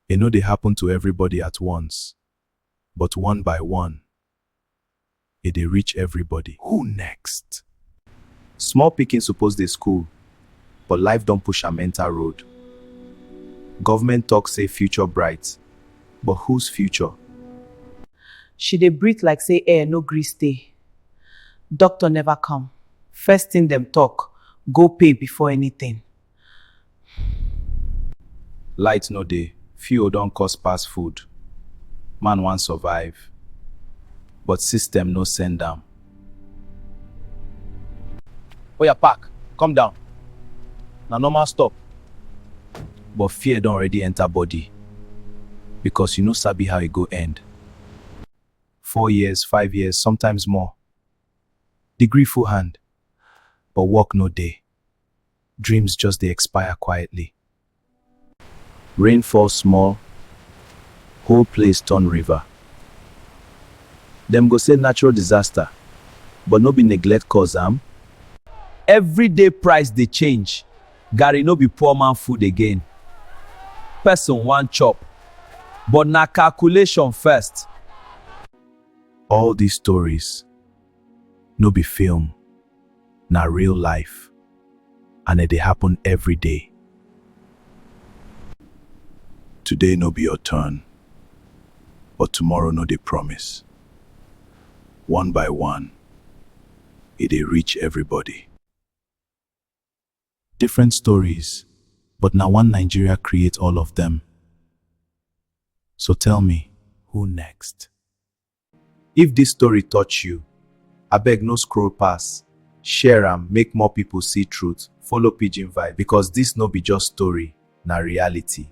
E no dey happen to everybody at once, but one by one, e dey reach everybody. Who next? Small pikin suppose dey school, but life don push am enter road. Government talk say future bright, but whose future? She dey breathe like say air no gree stay. Doctor never come. First thing dem talk, go pay before anything. Light no dey, fuel don cost pass food, man wan survive but system no send am. Oya park, come down, na normal stop. But fear don already enter body because you no sabi how e go end. Four years, five years, sometimes more. Degree full hand but work no dey. Dreams just dey expire quietly. Rain fall small, whole place turn river. Dem go say natural disaster, but no be neglect cause am. Everyday price dey change, garri no be poor man food again. Person wan chop, but na calculation first. All these stories No be film, na real life and e dey happen every day. Today no be your turn, but tomorrow no dey promise. One by one, e dey reach everybody. Different stories, but na one Nigeria create all of them. So tell me, who next? If this story touch you, abeg no scroll pass, share am make more people see truth, follow pidgin vibe because this no be just story, na reality.